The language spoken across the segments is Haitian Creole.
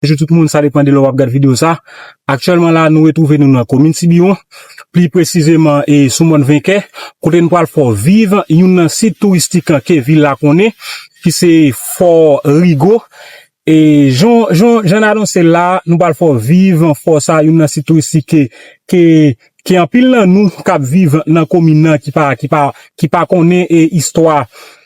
Bonjou tout moun, sa depan de lè wap gad video sa. Aktyèlman la nou retwouve nou nan komin Tibiwon, pli presizeman e sou mòn Venkè, kote nou pwal fè w viv youn nan sit touristik ke vil la konnen ki se Fò Rigo. E jan jan n anonse l la, nou pwal fè w viv fò sa, youn nan sit touristik ke ke anpil nan nou kap viv nan komin nan ki pa ki pa ki pa konnen e istwa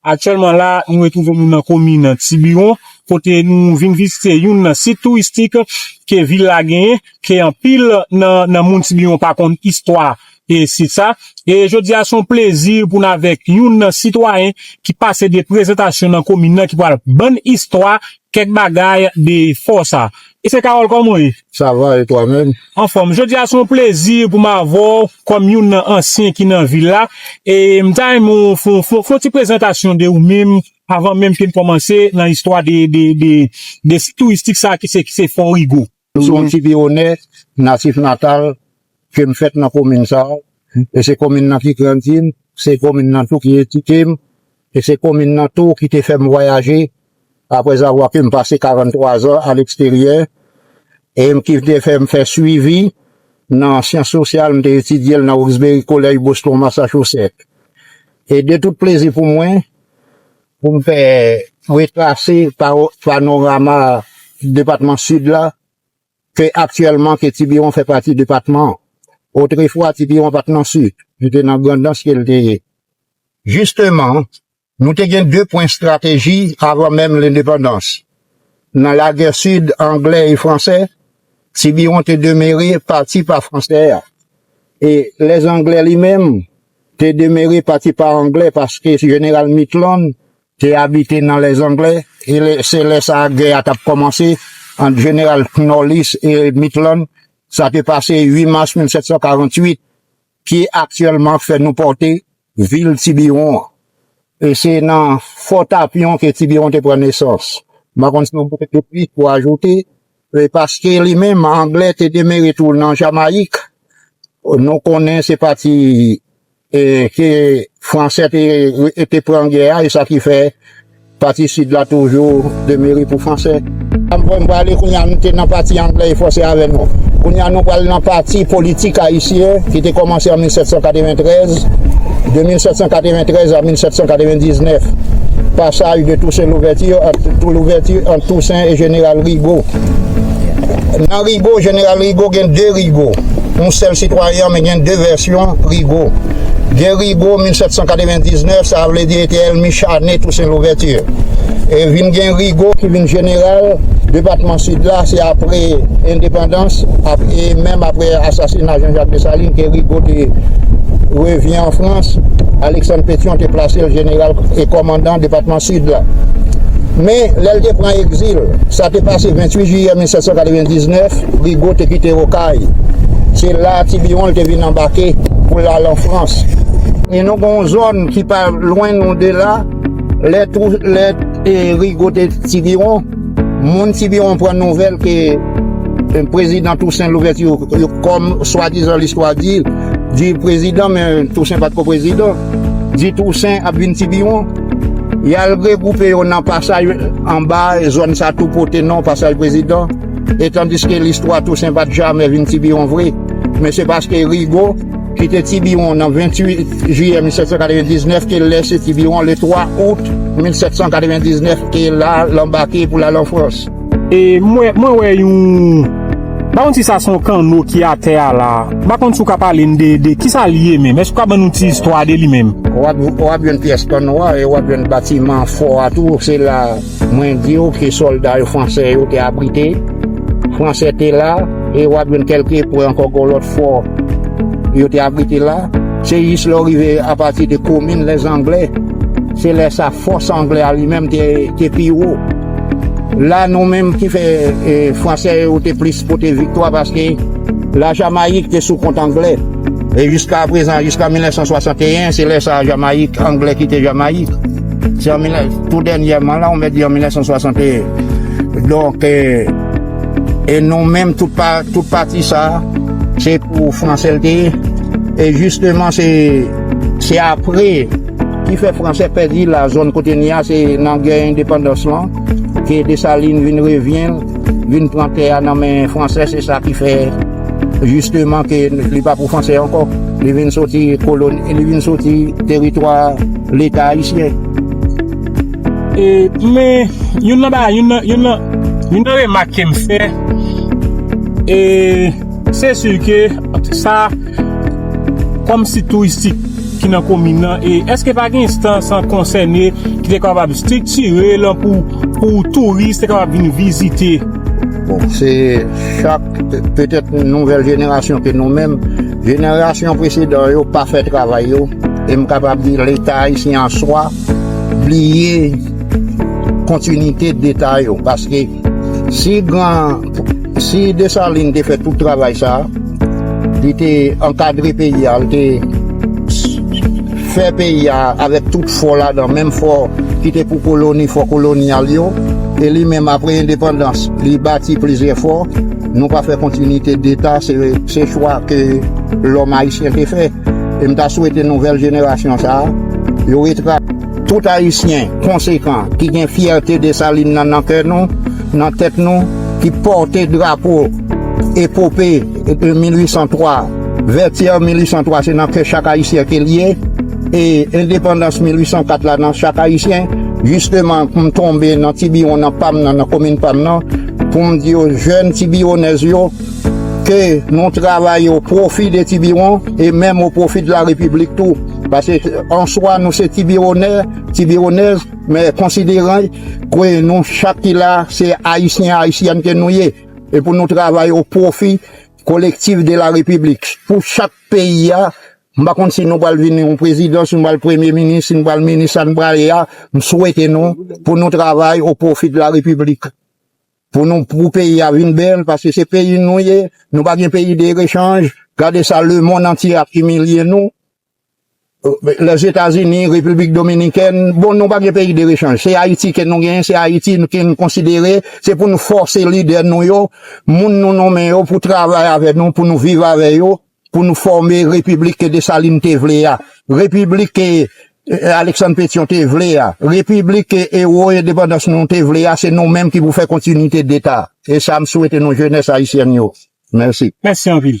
Aktyèlman la, nou retwouve nou nan komin Tiburon, kote nou vin vizite youn nan sit touristik ke vil la genyen, ke anpil nan moun Tiburon pa konn istwa sit sa. E jodi a se yon plezi pou n avèk youn nan sitwayen ki pase de prezantasyon nan komin nan ki pral bann istwa kèk bagay de fò sa. Se Carole kòman w ye? Sa va e twa menm? Anfòm, jodi a se yon plezi pou m avè w kòm youn nan ansyen ki nan vil la e m ta renmen w fè yon ti prezantasyon de ou menm avan menm ke n kòmanse nan istwa de sit touristik sa ki se Fò Rigo. Sou yon ti pi onè, natif natal Ke m fèt nan komin sa a, e se komin nan ki grandi m, se komin nan tou ki edike m, e se komin nan tou ki te fè m vwayaje aprèzavwa ke m pase 43 zan aleksteryè, e ki te fè m fè swivi nan syans sosyal, m te etidye l nan Roxbury College, Boston, Massachusetts. E de tout plezi pou mwen, pou m fè retrase panorama depatman Sid la, Se aktyèlman ke Tibiwon fè pati depatman an. Otrefwa Tibiwon pa t nan Sid, li te nan Grandans ke l te ye. Jisteman, nou te gen de pwen estrateji avan menm lendepandans. Nan lagè Sid anglè e fransè, Tibiwon te demere pati pa fransè a, e lè anglè li menm te demere pati pa anglè paske jeneral Mitland te abite nan lè zangle e se lè sa a gè a t ap kòmanse ant jeneral Knollys e Mitlan, sa te pase 8 mas 1748, ki aktyèlman fè nou pòte vil Tibiwon an. E se nan Fò Tapyon ke Tibiwon te pran nesans. M pa konn si w gen plis pou ajoute. E paske li menm, Anglè, te demere tou nan Jamayik, nou konnen se pati ke Fransè te pran gè a, e sa ki fè pati sid la toujou demere pou Fransè. Mwen prale kounye a, nou te nan pati Anglè e Fransè avè nou. Kounye a nou pral nan pati politik ayisyen ki te kòmanse an 1793, de 1793 a 1799, passage de Toussaint Louverture, entre Louverture. Tousen e Jeneral Rigo Nan Rigo, Jeneral Rigo gen de Rigo Yon sèl sitwayen an men gen de vèsyon Rigo Gen Rigo 1799, sa vle di li te èlmi chane Tousen Louvèti E vin gen Rigo ki vin jeneral Depatman Sid la se apre endepandans E menm apre asasina Janjak Desalin ke Rigo te revyen an Frans Aleksann Petyon te plase l jeneral e kòmandan depatman Sid la. Men, lè l te pran egzil, sa te pase 28 jiyè 1799, Rigaud te kite Okay. Se la a Tibiwon l te vin anbake pou l al an Frans. E nou gen yon zòn ki pa lwen nou de la, lè Rigaud te Tibiwon, moun Tibiwon pran nouvèl ke Prezidan Tousen Louvèti yo kòm swadizan listwa di, di prezidan men Tousen pa t ko prezidan, di Tousen ap vin Tibiwon. Y al regwoupe yo nan pasaj anba e zòn sa tou pote non Pasaj Prezidan e tandiske listwa Tousen pa t jamè vin Tibiwon vre men se paske Rigo ki te Tibiwon nan 28 jiyè 1799 ke l lèse Tibiwon le 3 out 1799 e l al anbake pou l al an Frans. E mwen mwen wè yon M pa konn si sa se yon kanno ki atè a la M pa konn si w ka pale m de de kisa li ye menm Èske w ka ban nou ti istwa de li menm? W ap w ap jwenn pyès kanno a e w ap jwenn batiman fò a tou Se la mwen di w ke sòlda yo fransè yo te abrite Fransè te la e w ap jwenn kèlke epwen ankò gen yon lòt fò yo te abrite la Se jis lè w rive apati de komin lèzanglè Se lè sa fòs anglè a li menm te te pi wo La nou menm ki fè Fransè yo te plis pote viktwa paske la Jamayik te sou kont Anglè. E jiska prezan, jiska 1961, se lè sa a Jamayik, Anglè kite Jamayik. Se an 19, tou dènyèman la, ou mèt di an 1961. Donk, e nou menm tout pa, tout pati sa a, se pou Fransè l te ye. E jisteman se, se apre. Ki fè franse pèdi la zòn kote n ye a se nan gè endepandans lan ke Desalin vin revyen l vin pran tè a nan men franse se sa ki fè jisteman ke li pa pou franse ankò li vin soti kolon li vin soti teritwa leta ayisyen. Men youn nan bagay youn nan remak ke m fè e se si ke sa. Kòm sit touristik ki nan komin nan, èske pa gen enstans konsène ki te kapab estriktire l pou touris te kapab vin vizite? Bon, se chak, petèt nouvèl jenerasyon ke nou menm, jenerasyon presedan yo pa fè travay yo, e m kapab di Leta ayisyen an swa bliye kontinite d'Eta yo paske. Si Desalin te fè tout travay sa a, li te ankadre peyi a, li te fè peyi a avèk tout fò ladan, menm fò ki te pou koloni, fò kolonyal yo, e li menm apre endepandans li bati plizyè fò, nou pa fè kontinite deta, se chwa ke lòm ayisyen te fè. E m ta swete nouvèl jenerasyon sa a, yo retrase. Tout Ayisyen konsekan ki gen fyète Desalin nan nan kè nou, nan tèt nou, ki pòte drapo epope 1803, Vètyè 1803 se nan kè chak Ayisyen ke l ye, e Endepandans 1804 la nan chak Ayisyen, jisteman m tonbe nan ti biwon nan pa m nan, nan komin pa m nan, pou m di yo, jèn ti biwonèz yo, ke nou travay o pwofi de ti biwon, e menm o pwofi de la Repiblik tou. Pase answa nou se ti biwonè, ti biwonèz, men konsideran ke nou chak ki la a se Ayisyen, Ayisyèn ke nou ye, e pou nou travay o pwofi kolektif de la Repiblik. Pou chak peyi a, m pa konn si nou pral vin yon prezidan, si nou pral premye minis, si nou pral minis sa nou pral ye a, m swete nou pou nou travay o pwofi de la Repiblik. Pou nou pou peyi a vin bèl paske se peyi nou ye nou pa gen peyi de rechanj gade sa le mond antye ap imilye nou lèzetazini repiblik dominikèn bon nou pa gen peyi de rechanj se ayiti ke nou gen se ayiti ke nou konsidere se pou nou fòse lidè nou yo moun nou nonmen yo pou travay avè nou pou nou viv avè yo Pou nou fòme repiblik ke Desalin te vle a, repiblik ke Aleksann Petyon te vle a, repiblik ke ewo endepandans nou te vle a, se nou menm ki pou fè kontinite deta. E sa m swete nou jenès ayisyèn yo. Mèsi. Mèsi anpil.